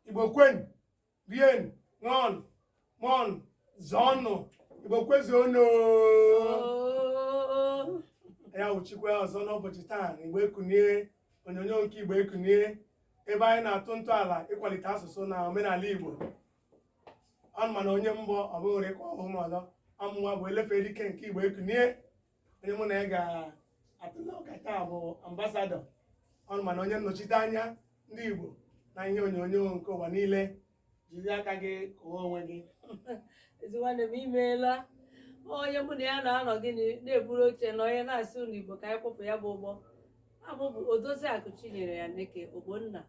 igbo kwenu rienu ṅụọnụ mụọnụ zụọnụ igbo kwezuonụ ya wụchikwa ọzọ n'ụbọchị taa na igbo ekunie onyonyo nke igbo ekunie ebe anyị na-atụ ntọala ịkwalite asụsụ na omenala igbo unu mana onye m bụ ọ bụghị ka ọhụụ m ọzọ ọ mụwa bụ elefere ike nke igbo ekunie onye mụ na ya ga-atụle ụka taa bụ ambassador unu mana onye nnọchite anya ndị igbo na ihe onyonyo nke ụwa niile jiri aka gị kọwaa onwe gị ezi nwanne m imeela onye mụ na ya na-anọ gịnị na-eburu oche na onye na-asị ụmụ igbo ka anyị kpọpụ ya bụ ụgbọ aha m bụ odozi akụ chinyere ya neke ogbonna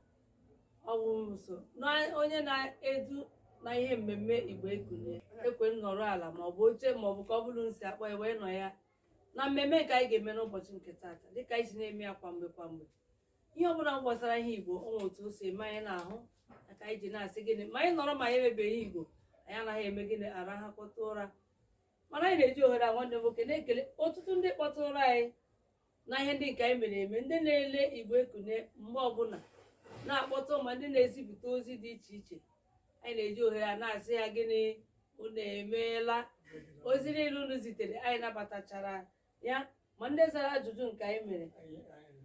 ọwụso na onye na-edu na ihe mmemme igbo ekunie ekwe m nọrọ ala ma ọ bụ oche ma ọ bụ ka ọ bụla esi akpọ ya wee nọ ya na mmemme nke anyị ga-eme n'ụbọchị nke taata dịka anyị si na-eme ya kwa mgbe kwa mgbe ihe ọ bụla gbasara ihe igbo o nwere otu o si eme anyị n'ahụ na ka anyị ji na-asị gịnị ma anyị nọrọ ma anyị emebeghị igbo anyị anaghị eme gịnị arahakọta ụra mana anyị na-eji ohere a nwanne m nwoke na-ekele ọtụtụ ndị kpọtụrụ anyị na ihe ndị nke anyị mere eme ndị na-ele igbo ekunie mgbe ọbụla na-akpọtụ ma ndị na-ezipụta ozi dị iche iche anyị na-eji ohere a na-asị ha gịnị unu emeela ozi niile unu zitere anyị nabatachara ya ma ndị zara ajụjụ nke anyị mere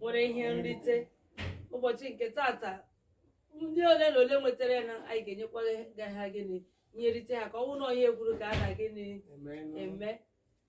nwere ihe nrite ụbọchị nke taata ndị ole na ole nwetara ya na anyị ga-enyekwara ha gịnị ihe nrite ha ka ọ bụrụ na ihe ekwuru ka a na gịnị eme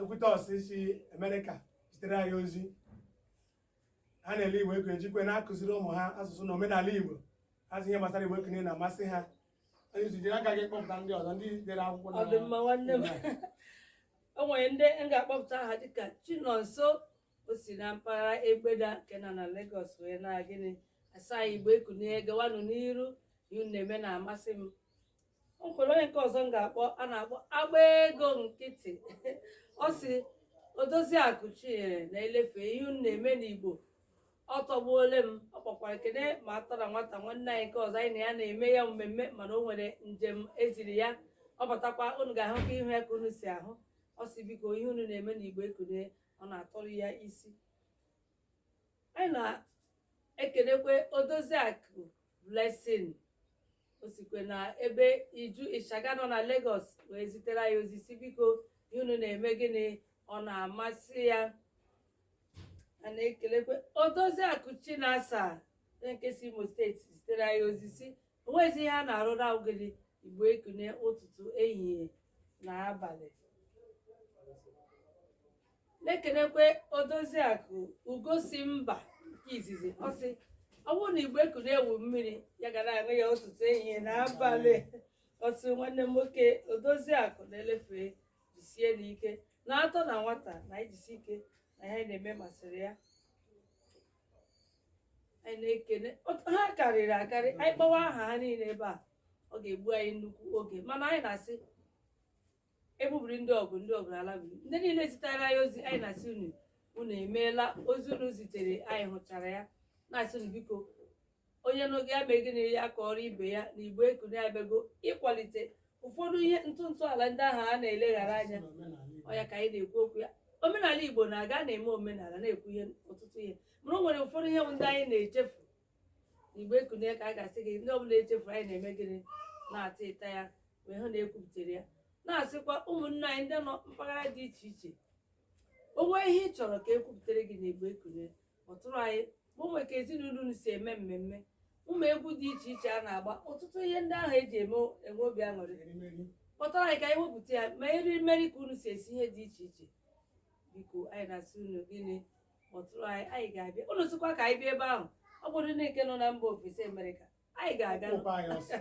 ekwutosi si amerịka zitere anyị ozi ha na-ele igbo ekunie jikwe na-akụziri ụmụ ha asụsụ na omenala igbo ha sị ihe gbasara igbo ekunie na-amasị ha onye isi jiri aka gị kpọpụta ndị ọzọ ndị dere akwụkwọ na ọ dị mma nwanne m o nwere ndị m ga-akpọpụta aha dịka chinonso o si na mpaghara egbeda nke nọ na Lagos wee na gịnị asị igbo ekunie gawanụ n'iru ihe unu na-eme na-amasị m o nwere onye nke ọzọ m ga-akpọ a na-akpọ agba ego nkịtị ọ si odozi akụ chinyere na elefe ihe unu na-eme n'igbo ọ tọgbuole m ọ kpọkwara kene ma atọ na nwata nwanne anyị nke ọzọ anyị na ya na-eme ya mmemme mana o nwere njem eziri ya ọ batakwa unu ga-ahụkwa ihu ya ka unu si ahụ ọ si biko ihe unu na-eme n'igbo ekunie ọ na-atọrọ ya isi anyị na-ekelekwe odozi akụ blessing o sikwe na ebe iju ịshaga nọ na Lagos wee zitere anyị ozi sị biko ihe unu na-eme gịnị ọ na-amasị ya a na-ekelekwe odoziakụ chinasa onye nke si imo steeti zitere anyị ozi sị o nwezi ihe a na-arụ na ogede igbo ekunie ụtụtụ ehihie na abalị na-ekenekwe odoziakụ ugosi mba nke izizi ọ sị ọ bụrụ na igbo ekunie wụ mmiri ya ga na-aṅụ ya ụtụtụ ehihie na abalị otu nwanne m nwoke odoziakụ na-elefe jisie n'ike na atọ na nwata na anyị jisi ike na ihe anyị na-eme masịrị ya anyị na-ekene ọtụ ha karịrị akarị anyị kpọwa aha ha niile ebe a ọ ga-egbu anyị nnukwu oge mana anyị na-asị ebubiri ndị ọgụ ndị ọgụ ala bụ ndị niile zitere anyị ozi anyị na-asị unu unu emeela ozi unu zitere anyị hụchara ya na-asị unu biko onye na-ege ya mee gịnị ya kọọrọ ibe ya na igbo ekunie abịago ịkwalite ụfọdụ ihe ntụ ntọala ndị ahụ a na-eleghara anya ọ ya ka anyị na-ekwu okwu ya omenala igbo na-aga na-eme omenala na-ekwu ihe ọtụtụ ihe mana o nwere ụfọdụ ihe bụ ndị anyị na-echefu igbo ekunie ka a ga-asị gị ndị ọbụla echefuru anyị na-eme gịnị na-ata ịta ya wee hụ na e kwupụtara ya na-asịkwa ụmụnne anyị ndị nọ mpaghara dị iche iche o nwee ihe ị chọrọ ka e kwupụtara gị na igbo ekunie kpọtụrụ anyị ma ọ bụ ka ezinụlọ unu si eme mmemme ụmụ egwu dị iche iche a na-agba ọtụtụ ihe ndị ahụ e ji eme enwe obi aṅụrị kpọtụrụ anyị ka anyị wepụta ya ma erimeri ka unu si esi ihe dị iche iche biko anyị na-asị unu gịnị kpọtụrụ anyị anyị ga-abịa unu sịkwa ka anyị bịa ebe ahụ ọ bụrụ ndị nke nọ na mba ofesi Amerịka anyị ga-aga Kpọba anyị ọsọ.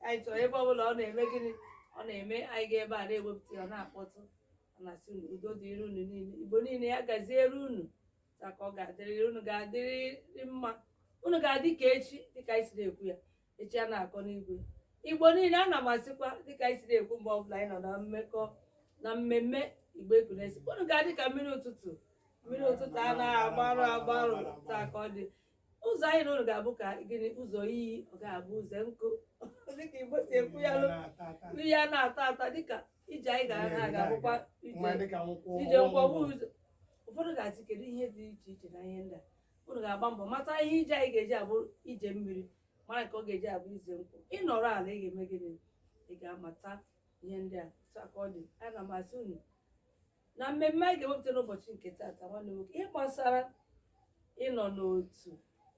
anyị chọrọ ebe ọ bụla ọ na-eme gịnị ọ na-eme anyị ga ebe a na-ewepụta ya ọ na-akpọtụ ọ na-asị unu udo dịrị unu niile igbo niile ya gaziere unu taa ka ọ ga-adịrịrị unu ga-adịrịrị mma unu ga-adị ka echi dịka anyị si na-ekwu ya echi a na-akọ n'igwe igbo niile ana m asịkwa dịka anyị siri ekwu mgbe ọbụla anyị nọ na mmekọ na mmemme igbo ekunie sị unu ga-adị ka mmiri ụtụtụ mmiri ụtụtụ anaghị agbarụ agbarụ taa ka ọ dị ụzọ anyị na unu ga-abụ ka gịnị ụzọ iyi ọ ga-abụ ụzọ nkụ dịka igbo si ekwu ya iyi anaghị ata ata dịka ije anyị gara na ga-abụkwa ije ije nkwọgbu ụzọ ụfọdụ ga-asị kedu ihe dị iche iche na ihe ndị a unu ga-agba mbọ mata ihe ije anyị ga-eji abụ ije mmiri mara ka ọ ga-eji abụ ije nkụ ị nọrọ ala ị ga-eme gịnị ị ga-amata ihe ndị a otu a ka ọ dị ana m asị unu na mmemme anyị ga-ewepụta n'ụbọchị nke taata nwanne nwoke ihe gbasara ịnọ n'otu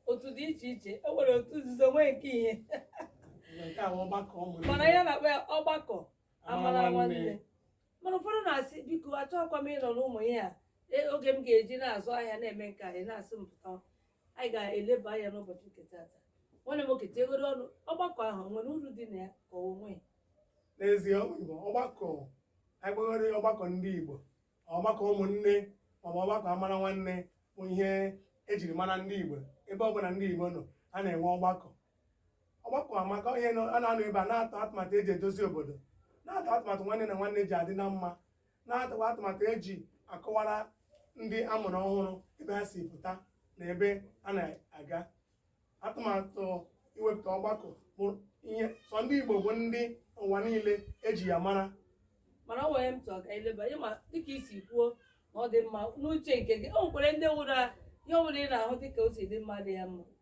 otu dị iche iche e nwere otu nzuzo nwee nke ihe nke a bụ ọgbakọ ụmụnne mana ya na-akpọ ya ọgbakọ amara nwanne mana ụfọdụ na-asị biko achọghịkwa m ịnọ n'ụmụ ihe a E, oge m ga-eji na-azụ ahịa na-eme nke a ị na-asị m pụta anyị ga-eleba anya n'ụbọchị nke taata nwanne m nwoke tiegoro ọnụ ọgbakọ ahụ o nwere uru dị na ya ka o nweghị n'ezie ụmụ igbo ọgbakọ anyị kpọgoro ya ọgbakọ ndị igbo ọgbakọ ụmụnne maọbụ ọgbakọ amara nwanne bụ ihe ejiri mara ndị igbo ebe ọbụla ndị igbo nọ a na-enwe ọgbakọ ọgbakọ amaka onye nọ- a na-anọ ebe a na-atụ atụmatụ eji edozi obodo na-atụ atụmatụ nwanne na nwanne ji adị na mma na-atụkwa atụmatụ eji akọwara ndị a mụrụ ọhụrụ ebe ha si pụta na ebe a na-aga atụmatụ iwepụta ọgbakọ bụ ihe sọ ndị Igbo bụ ndị ụwa niile eji ya mara mana ọ nwere m tụọ ka eleba ịma dịka i si kwuo na ọ dị mma n'uche nke gị o nwekwere ndị nwụrụ a- ihe ọ bụla ị na-ahụ dịka o si dị mma dị ya mma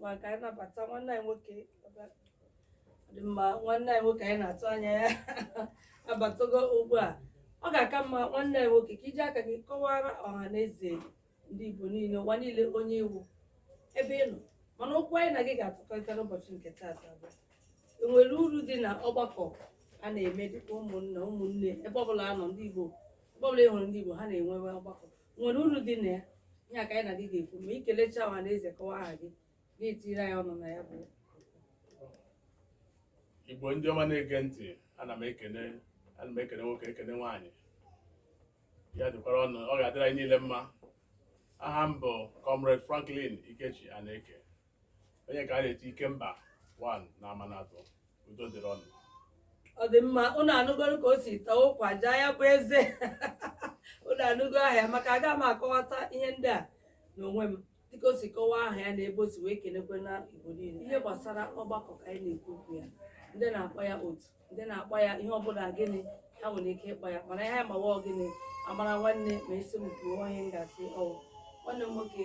ma ka anyị nabata nwanne anyị nwoke ọbịa. Ọ dị mma nwanne anyị nwoke anyị na-atụ anya ya abatago ugbu a ọ ga-aka mma nwanne anyị nwoke ka i ji aka gị kọwara ọha na eze ndị Igbo niile ụwa niile onye ị wụ ebe ị nọ mana okwu anyị na gị ga-atụkọrịta n'ụbọchị nke taata bụ e nwere uru dị na ọgbakọ a na-eme dịka ụmụnna ụmụnne ebe ọbụla a nọ ndị Igbo ebe ọbụla ị hụrụ ndị Igbo ha na-enwe ọgbakọ nwere uru dị na ya ihe a ka anyị na gị ga-ekwu ma ị kelecha ọha na eze kọwa aha gị gị etinyere anyị ọnụ na ya bụ igbo ndị ọma na-ege ntị ana m ekene ana m ekene nwoke ekene nwaanyị ya dịkwara unu ọ ga-adịrị anyị niile mma aha m bụ comrade franklin ikechi aneke onye ka a na-eti Ikemba one na Amanatọ udo dịrị unu ọ dị mma unu anụgoro ka o si tọọ ụkwa jaa ya bụ eze unu anụgo aha ya maka aga m akọwata ihe ndị a n'onwe m dịka o si kọwaa aha ya na ebe o si wee kenekwe na igbo niile ihe gbasara ọgbakọ ka anyị na-ekwu okwu ya ndị na-akpọ ya otu ndị na-akpọ ya ihe ọbụla gịnị ha nwere ike ịkpọ ya mana ihe anyị ma wụ gịnị amara nwanne ma ị sị m kwuo ihe m ga-asị ọ wụ nwanne m nwoke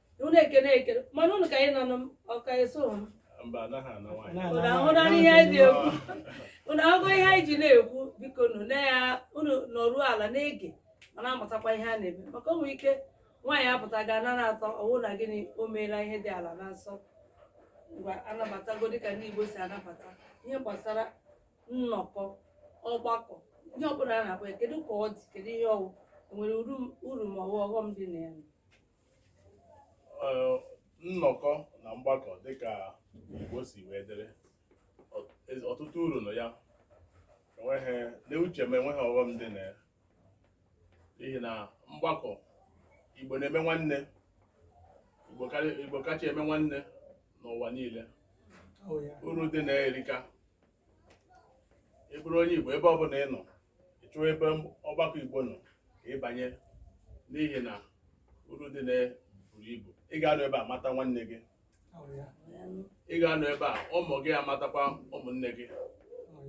unu ekene ekene mana unu ka anyị nọ ọka eso ahụra ihe anyị na-ekwu unu ahụgo ihe anyị ji na-ekwu bikonụ na ya unu nọruo ala na-ege ma na-amụtakwa ihe a na-eme maka o nwere ike nwaanyị apụta ga anara atọ ọ wụ na gịnị o meela ihe dị ala na nsọ ngwa anabatago dịka ndị Igbo si anabata ihe gbasara nnọkọ ọgbakọ ihe ọbụla a na-akpọ ya kedu ka ọ dị kedu ihe ọ wụ e nwere uru ma ọ wụ ọghọm dị na ya nnọkọ na mgbakọ dịka Igbo si wee dịrị ọtụtụ uru nọ ya enweghị n'uche m enweghị ọghọm dị na ya n'ihi na mgbakọ Igbo na-eme nwanne Igbo kacha eme nwanne n'ụwa niile oh, uru dị na ya erika ị bụrụ onye Igbo ebe ọ bụla ị nọ ị chọọ ebe ọgbakọ Igbo nọ ka ị banye n'ihi na uru dị na buru ibu ị ga-anọ ebe a mata nwanne gị ị ga-anọ ebe a ụmụ gị amatakwa ụmụnne gị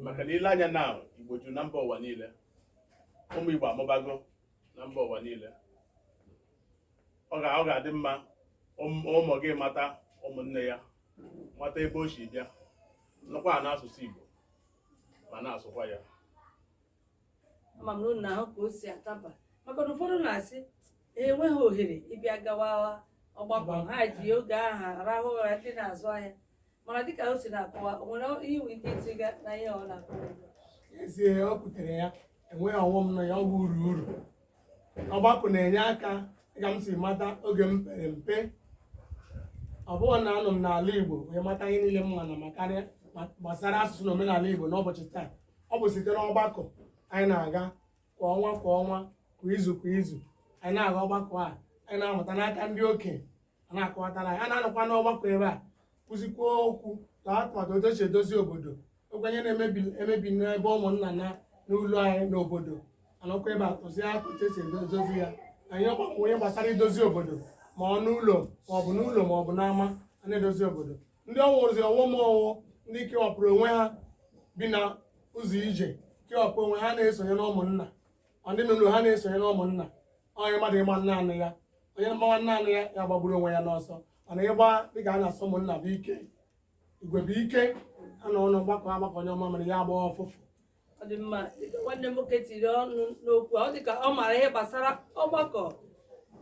maka na i lee anya na Igbo juru na mba ụwa niile ụmụ Igbo amụbago na mba ụwa niile ọ ga-adị mma ụmụ gị mata ụmụnne ya mata ebe o si bịa nụkwanụ asụsụ Igbo ma na-asụkwa ya ama m na unu ahụ ka o si adaba maka na ụfọdụ na-asị "Ha enweghị ohere ịbịa gawa ọgbakọ ha ji oge ahụ arahụ ụra ndị na-azụ ahịa mana dịka o si na-akọwa o nwere ihe i nwere ike itiga na ihe ọ na-akọwa ugbu a? ezie o kwutere ya enweghị ọghọm na ya ọ bụ uru uru ọgbakọ na-enye aka ka m si mata oge m pere mpe ọ bụghị na anọ m n'ala Igbo wee mata ihe niile m ma na makarịa gbasara asụsụ na omenala Igbo n'ụbọchị taa ọ bụ site n'ọgbakọ anyị na-aga kwa ọnwa kwa ọnwa kwa izu kwa izu anyị na-aga ọgbakọ a anyị na-amụta n'aka ndị okenye na-akọwatara anyị a na-anọkwa n'ọgbakọ ebe a kwuzikwuo okwu na atụmatụ otu e si edozi obodo o nwee ihe na-emebi emebi n'ebe ụmụnna na n'ụlọ anyị n'obodo a nọkwa ebe a kwuzie okwu otu e si edozi ya anyị ọgbakọ ọ ihe gbasara idozi obodo ma ọ n'ụlọ ma ọ bụ n'ụlọ ma ọ bụ n'ama a na-edozi obodo ndị ọ wụzi ọ wụ ma ọ wụ ndị kewapụrụ onwe ha bi na ụzọ ije kewapụ onwe ha na-esonye n'ụmụnna ọ ndị n'ụlọ ha na-esonye na ụmụnna onye mmadụ ịgba naanị ya onye gbawa naanị ya ya gbagburu onwe ya n'ọsọ mana ịgba dịka a na-asị ụmụnna bụ ike igwe bụ ike a nọ ọnụ gbakọ agbakọ nyụọ mamịrị ya agbaa ụfụfụ ọ dị mma dịka nwanne m nwoke tiri ọnụ n'okwu a, ọ dị ka ọ maara ihe gbasara ọgbakọ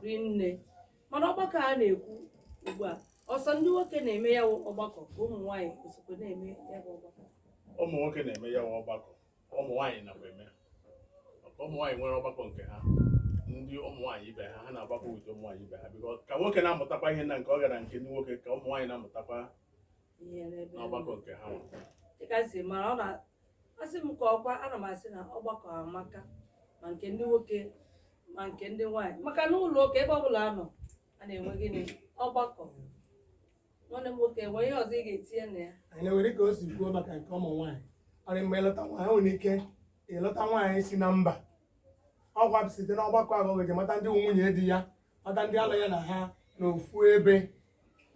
rinne mana ọgbakọ a na-ekwu ugbu a ọ sọ ndị nwoke na-eme ya wụ ọgbakọ ka ụmụ nwaanyị sokwa na-eme ya bụ ọgbakọ ụmụ nwoke na-eme ya wụ ọgbakọ ụmụ nwaanyị nakwa eme maka ụmụ nwaanyị nwere ọgbakọ nke ha ndị ụmụ nwaanyị ibe ha ha na-agbakọ ụdị ụmụ nwaanyị ibe ha biko ka nwoke na-amụtakwa ihe na nke ọ gara nke ndị nwoke ka ụmụ nwaanyị na-amụtakwa ihe n'ebe n'ọgbakọ nke ha nwa. dịka si mara ọ na asị m ka ọ kwa ana m asị na ọgbakọ amaka ma nke ndị nwoke ma nke ndị nwaanyị maka na ụlọ ụka ebe ọbụla a nọ a na-enwe gịnị ọgbakọ nwanne m nwoke nwee ihe ọzọ ị ga-etinye na ya anyị na-ewere ka o si kwuo maka nke ụmụ nwaanyị ọ rị mgbe ị lụta nwaanyị nwere ike ịlụta nwaanyị si na mba ọ kwa bụ site n'ọgbakọ ahụ ka ọ ga-eji mata ndị nwunye di ya mata ndị a lụ ya na ha na ofu ebe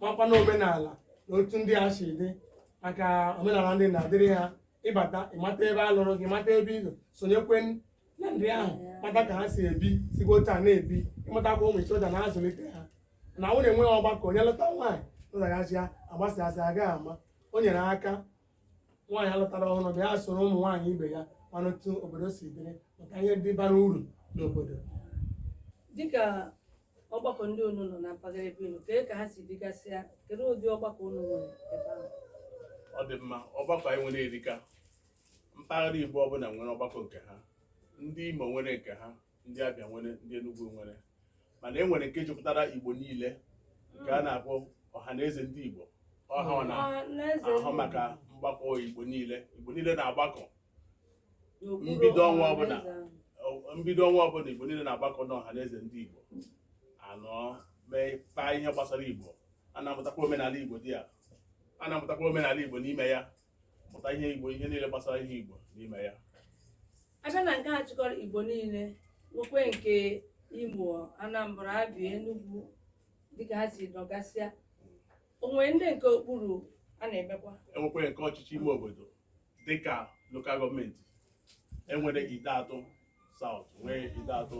makwanụ omenala na otu ndị a si dị maka omenala ndị na-adịrị ha ị bata ị mata ebe a lụrụ gị mata ebe ị nọ sonyekwe na ndị ahụ mata ka ha si ebi sikwa otu a na-ebi ịmatakwa ụmụ iche ụda na-azụlite ha na ọ wụ na enweghị ọgbakọ onye lụta nwaanyị lụtaghachi ya agbasasị agaghị ama o nyere aka nwaanyị alụtara ọhụrụ bịa soro ụmụ nwaanyị ibe ya mana otu obodo si dịrị maka ihe ndị bara uru n'obodo dịka ọgbakọ ndị unu nọ na mpaghara ebe unu kee ka ha si dịgasịa kedu ụdị ọgbakọ unu nwere ebe ahụ ọ dị mma ọgbakọ anyị nwere erika mpaghara Igbo ọbụla nwere ọgbakọ nke ha ndị Imo nwere nke ha ndị Abịa nwere ndị Enugu nwere mana e nwere nke jikọtara Igbo niile nke a na-akpọ ọha na eze ndị Igbo ọha ọ na-ahụ maka mgbakọ Igbo niile Igbo niile na-agbakọ mbido ọnwa ọbụla mbido ọnwa ọbụla Igbo niile na-agbakọ n'ọha na eze ndị Igbo anọ mee kpaa ihe gbasara Igbo a na-amụtakwa omenala Igbo dị ya a na-amụtakwa omenala Igbo n'ime ya mụta ihe igbo ihe niile gbasara ihe igbo n'ime ya abịa na nke a chịkọrọ igbo niile nwekwe nke imo anambra abịa enugwu dịka ha si dịgasịa o nwere ndị nke okpuru a na-emekwa enwekwere nke ọchịchị ime obodo dịka lokal gọọmenti enwere Ideato South nwee Ideato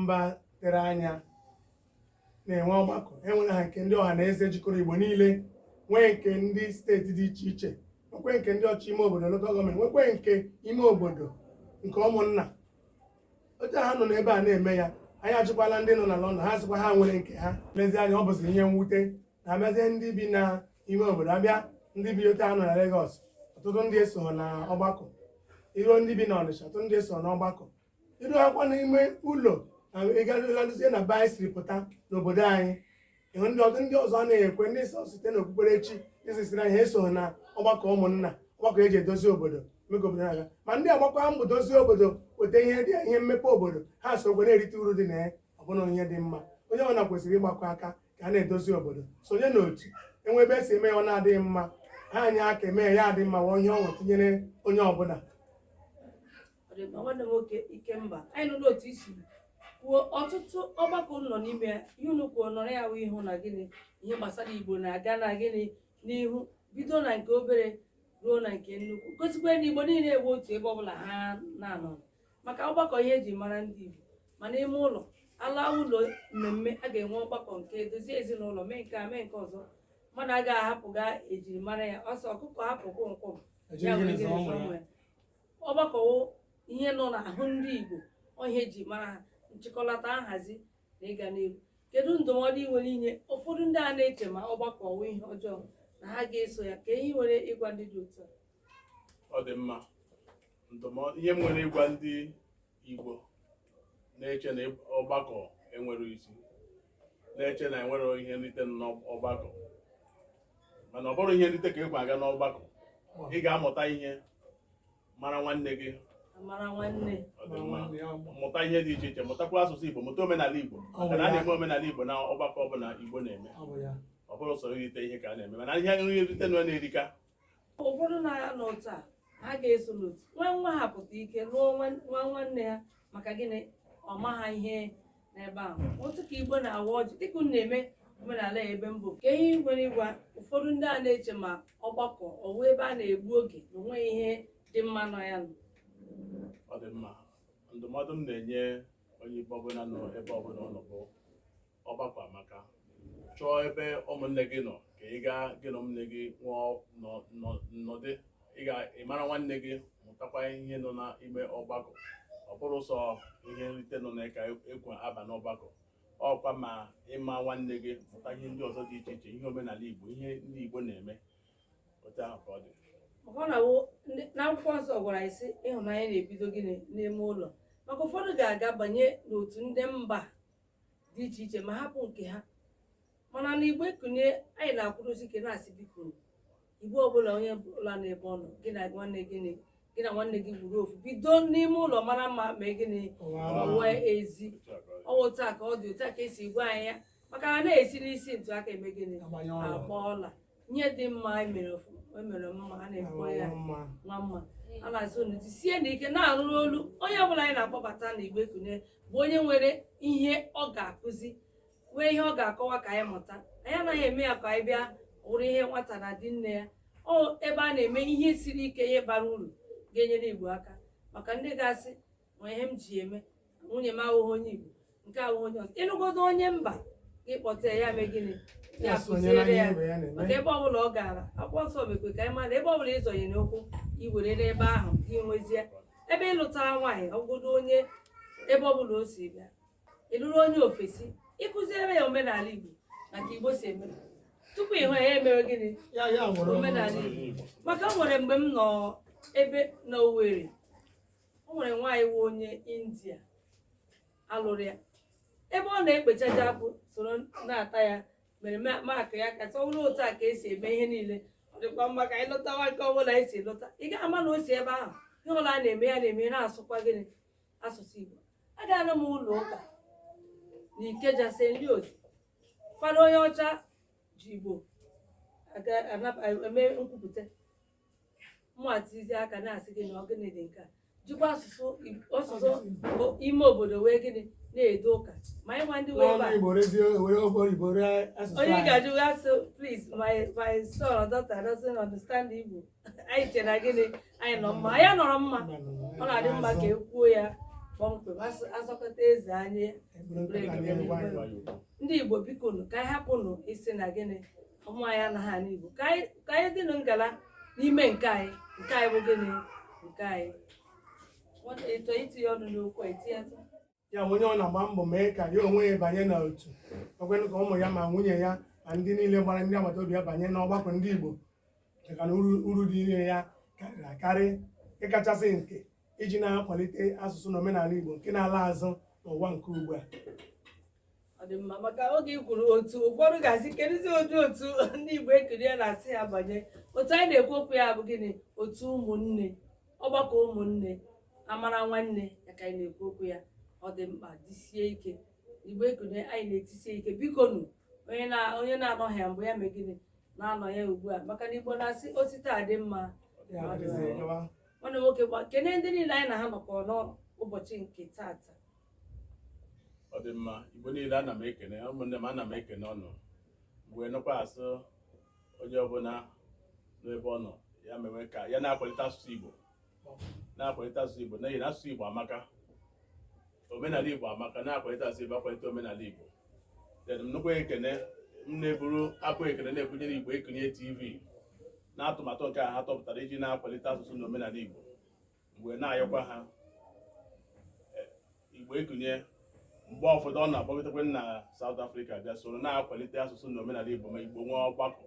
mba tere anya na-enwe ọgbakọ enwere ha nke ndị ọha na eze jikọrọ igbo niile nwee nke ndị steeti dị iche iche nwekwe nke ndị ọchịchị ime obodo lokal gọọmenti nwekwe nke ime obodo nke ụmụnna otu ha nọ n'ebe a na-eme ya anyị ajụkwala ndị nọ na London ha sịkwa ha nwere nke ha lezi anya ọ bụzi ihe mwute na abịazie ndị bi na ime obodo abịa ndị bi otu a nọ na Lagos ọtụtụ ndị eso na ọgbakọ iruo ndị bi na Ọnịcha ọtụtụ ndị eso na ọgbakọ iruokwa n'ime ụlọ ịgaruzie na be anyị siri pụta n'obodo anyị ịhụ ndị ọdụ ndị ọzọ na-ekwe ndị sọ site n'okpukperechi isisi na ha esoghị na ọgbakọ ụmụnna ọgbakọ eji edozi obodo mee ka obodo na-aga ma ndị a gbakwa mbọ dozie obodo weta ihe dị ihe mmepe obodo ha sokwa na-erite uru dị na ya ọ bụ na ihe dị mma onye ọbụla kwesịrị ịgbakọ aka ka a na-edozi obodo sonye n'otu enwe ebe esi eme ya ọ na-adịghị mma ha anyị aka eme ya adị mma wụọ ihe ọṅụ tinyere onye ọbụla ọ dị mma nwanne m nwoke Ikemba anyị nụrụ otu i si kwuo ọtụtụ ọgbakọ unu nọ n'ime ya ihe unu kwuo nọrọ ya wụ ịhụ na gịnị ihe gbasara igbo na-aga na gịnị n'ihu bido na nke obere ruo na nke nnukwu gosikwa na igbo niile nwe otu ebe ọbụla ha na-anọ maka ọgbakọ ihe eji mara ndị igbo ma n'ime ụlọ ala ụlọ mmemme a ga-enwe ọgbakọ nke dozie ezinụlọ mee nke a mee nke ọzọ mmadụ agaghị ahapụ ihe ejiri mara ya ọ sị ọkụkọ hapụ kwọmkwọm ya were gịnị zụọ nwa ya. ọgbakọ wụ ihe nọ n'ahụ ndị Igbo ọ wụ ihe eji mara ha nchịkọlata nhazi na ịga n'ihu kedu ndụmọdụ ị nwere inye ụfọdụ ndị a na-eche ma ọgbakọ ọ wụ ihe ọjọọ na ha ga-eso ya kee ihe i nwere ịgwa ndị dị otu a ọ dị mma ndụmọdụ ihe m nwere ịgwa ndị Igbo na-eche na ọgbakọ enwerọ isi na-eche na enwerọ ihe nrite n'ọgbakọ mana ọ bụrọ ihe nrite ka ekwe aga n'ọgbakọ ị ga-amụta ihe mara nwanne gị mụta ihe dị iche iche mụtakwa asụsụ Igbo mụta omenala Igbo maka na a na-eme omenala Igbo na ọgbakọ ọbụla Igbo na-eme ọ bụrọ sọ irite ihe ka a na-eme mana ihe nrite na-erika ụfọdụ na-aga n'otu a ha ga-eso n'otu nwa nwa ha pụta ike lụọ nwa nwanne ya maka gịnị ọ ma ha ihe n'ebe ahụ otu ka Igbo na-awa ọjị dịka unu na-eme omenala ya ebe mbụ ka ihe m nwere ịgwa ụfọdụ ndị a na-eche ma ọgbakọ ọ wụ ebe a na-egbu oge na o nweghị ihe dị mma nọ ya no ọ dị mma ndụmọdụ m na-enye onye Igbo ọbụla nọ ebe ọbụla ọ nọ bụ ọgbakọ amaka chọọ ebe ụmụnne gị nọ ka ị gaa gị na ụmụnne gị nwee nnọdụ ị ga-amara nwanne gị mụtakwa ihe nọ n'ime ọgbakọ ọ bụrọ sọ ihe nrite nọ na ka ekwe aba n'ọgbakọ ọ kwa ma ịma nwanne gị mụta ihe ndị ọzọ dị iche iche ihe omenala Igbo ihe ndị Igbo na-eme otu ahụ ka ọ dị na akwụkwọ nsọ gwara anyị sị ịhụnanya na-ebido gịnị n'ime ụlọ maka ụfọdụ ga-aga banye n'otu ndị mba dị iche iche ma hapụ nke ha mana na Igbo Ekunie anyị na-akwụrụsi ike na-asị biko Igbo ọbụla onye ọbụla n'ebe ọ nọ gị na nwanne gị na- gị na nwanne gị wụrụ ofu bido n'ime ụlọ mara mma mee gịnị pụwa ezi ọ wụ otu a ka ọ dị otu a ka esi gwa anyị ya maka na a na-esi n'isi ntụ aka eme gịnị Agbanye ọla. agba ọla ihe dị mma anyị mere ofu- e mere mma a na-ekwe ya mma nwa mma a na-asị unu jisie n'ike na-arụrụ ọlụ onye ọbụla anyị na-akpọbata na Igbo Ekunie bụ onye nwere ihe ọ ga-akụzi nwee ihe ọ ga-akọwa ka anyị mụta anyị anaghị eme ya ka anyị bịa wụrụ ihe nwata na di nne ya ọ ebe a na-eme ihe siri ike ihe bara uru ga-enyere Igbo aka maka ndị ga-asị ma ihe m ji eme nwunye m awụghị onye Igbo nke awụghị onye ọzọ ị lụgodo onye mba gị kpọtee ya mee gịnị ya kụziere ya maka ebe ọbụla ọ gara akwụkwọ nsọ mekwe ka anyị mara ebe ọbụla ịzọnye n'ụkwụ i were n'ebe ahụ gị nwezie ebe ị lụta nwaanyị ọ wụgodo onye ebe ọbụla o si bịa ị lụrụ onye ofesi ị kụziere ya omenala Igbo ma ka Igbo si eme tupu ị hụ ya emere gịnị omenala Igbo maka o nwere mgbe m nọ ebe na Owerri o nwere nwaanyị wụ onye India a lụrụ ya ebe ọ na-ekpechaja akpụ soro na-ata ya mere ma- mak ya ka a sị ọ bụrụ otu a ka esi eme ihe niile ọ dịkwa mma ka anyị lụtawa nke ọbụla anyị si lụta ị gaghị ama na o si ebe ahụ ihe ọbụla a na-eme ya na-eme na-asụkwa gịnị asụsụ Igbo agaala m ụlọ ụka na Ikeja St Leo's fada onye ọcha ji Igbo aga- anab- eme nkwupụta mụ atizi aka na-asị gị na ọ gịnị dị nke a jikwa asụsụ Ig- asụsụ o- ime obodo wee gịnị na-edo ụka ma anyị nwa ndị wee n'ọnụ ba igbo rezie were ofe oyibo ree asụsụ onye anyị ga-ajụ ya ọ sị please my my son or daughter doesn't understand Igbo anyị chere na gịnị anyị nọ mma anyị anọrọ mma ọ na-adị mma ka e kwuo ya kpọmkwem asụ- asọkata eze anya Eburu nkata n'ihu gwa ya okwu. ndị Igbo biko nụ ka anyị hapụnụ ịsị na gịnị ụmụ anyị anaghị anụ Igbo ka anyị dịnụ ngala n'ime nke anyị nke anyị bụ gịnị nke anyị ị chọọ itinye ọnụ n'okwu i tinye ya onye ọbụna gba mbọ mee ka ya onwe ya banye na otu ekwenụ ka ụmụ ya ma nwunye ya ma ndị niile gbara ndị agbata obi ya banye n'ọgbakọ ndị Igbo maka na uru dị na ya karịrị akarị ịkachasị nke iji na-akwalite asụsụ na omenala Igbo nke na-ala azụ n'ụwa nke ugbu a ọ dị mma maka oge i kwuru otu ụfọdụ ga-asị kedụzi ụdị otu ndị Igbo Ekunie na-asị ya banye otu anyị na-ekwu okwu ya bụ gịnị otu ụmụnne ọgbakọ ụmụnne amara nwanne ya ka anyị na-ekwu okwu ya ọ dị mkpa jisie ike Igbo Ekunie anyị na-etisie ike biko nụ onye na- onye na-anọghị ya mbụ ya mee gịnị na-anọ ya ugbu a maka na Igbo na-asị o si taa dị mma Ya adịghịzi enyewa. nwanne m nwoke ngwa kene ndị niile anyị na ha nọkọ n'ụbọchị nke tata ọ dị mma igbo niile ana m ekene ụmụnne m ana m ekene unu wee nọkwa asị onye ọbụla n'ebe ọ nọ ya mewe ka ya na-akwalite asụsụ igbo na-akwalite asụsụ igbo n'ihi na asụsụ igbo amaka omenala igbo amaka na-akwalite asụsụ igbo akwalite omenala igbo then m nọkwa ekene m na-eburu abọ ekene na-ebunyere igbo ekunie tv na atụmatụ nke a ha tụpụtara iji na-akwalite asụsụ na omenala igbo mgbe na-ayọkwa ha eh, igbo ekunie mgbe ụfọdụ ọ na-akpọgidekwe na South Africa bịa soro na-akwalite asụsụ na omenala Igbo ma Igbo nwee ọgbakọ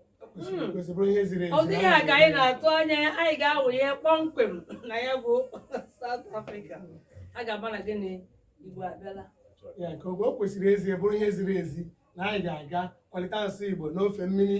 ọ dịghị aka anyị na-atụ anya anyị ga-awụcha kpọmkwem na ya bụ South Africa a ga-ama na gịnị Igbo abịala ya nke o kwesịrị ezi bụrụ ihe ziri ezi na anyị ga-aga kwalite asụsụ Igbo n'ofe mmiri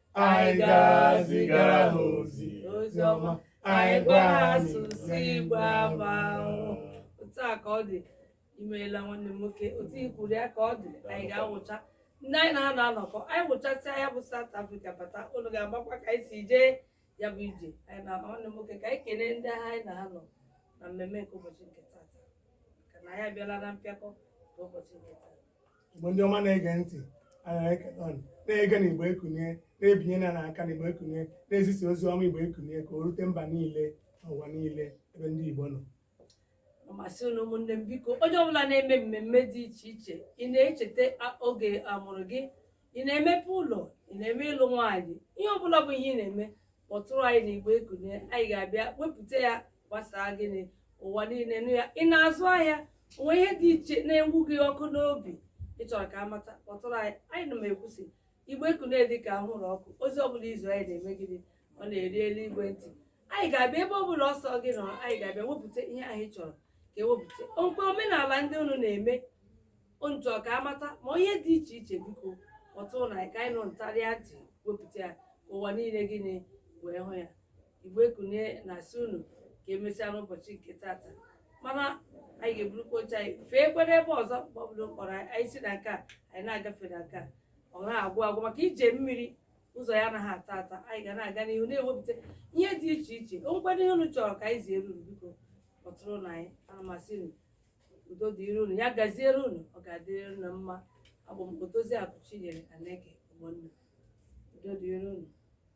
anyị ga-azigara ha ozi ozi ọma anyị gwa ha asụsụ igbo amaka otu a ka ọ dị imeela nwanne m nwoke otu i kwuru ya ka ọ dị anyị ga-awụcha ndị anyị na ha na-anọkọ anyị wụchasịa ya bụ South Africa bata unu ga-agbakwa ka anyị si jee ya bụ ije anyị na nwanne m nwoke ka anyị kelee ndị ahụ anyị na ha nọ na mmemme nke ụbọchị nke tata maka na anyị abịala na mpịakọ nke ụbọchị nke tata Igbo ndị ọma na-ege ntị na-ege na Igbo Ekunie na-ebinye na n'aka na Igbo Ekunie na-ezisa ozi ọma Igbo Ekunie ka o rute mba niile n'ụwa niile ebe ndị Igbo nọ m asị unu ụmụnne m biko onye ọbụla na-eme mmemme dị iche iche ị na-echeta oge a mụrụ gị ị na-emepe ụlọ ị na-eme ịlụ nwaanyị ihe ọbụla bụ ihe ị na-eme kpọtụrụ anyị na Igbo Ekunie anyị ga-abịa wepụta ya gbasaa gịnị ụwa niile nụ ya ị na-azụ ahịa o nwee ihe dị iche na-enwu gị ọkụ n'obi ị chọrọ ka a mata kpọtụrụ anyị ana m ekwu sị Igbo Ekunie dị ka anwụrụ ọkụ ozi ọbụla i zi anyị na-eme gịnị ọ na-eru eluigwe ntị anyị ga-abịa ebe ọbụla ọ sọ gị nọ anyị ga-abịa wepụta ihe anyị chọrọ ka e wepụta o nwekwa omenala ndị unu na-eme unu chọrọ ka a mata ma ihe dị iche iche biko kpọtụrụnụ anyị ka anyị nọ n'ịntanetị wepụta ya ka ụwa niile gịnị wee hụ ya Igbo Ekunie na-asị unu ka emesịa n'ụbọchị nke tata mana anyị ga-eburukwa oche anyị fee kwere ebe ọzọ mgbe ọ bụla a kpọrọ anyị si na nke a anyị na-agafe na nke a ọ na-agwụ agwụ maka ije mmiri ụzọ ya anaghị ata ata anyị ga na-aga n'ihu na-ewepụta ihe dị iche iche o nwekwadụ ihe unu chọrọ ka anyị zie unu biko kpọtụrụnụ anyị ana m asị unu udo dịrị unu ya gaziere unu ọ ga-adịrị unu mma abụ m Odoziakụ Chinyere Aneke Ogbonna udo dịrị unu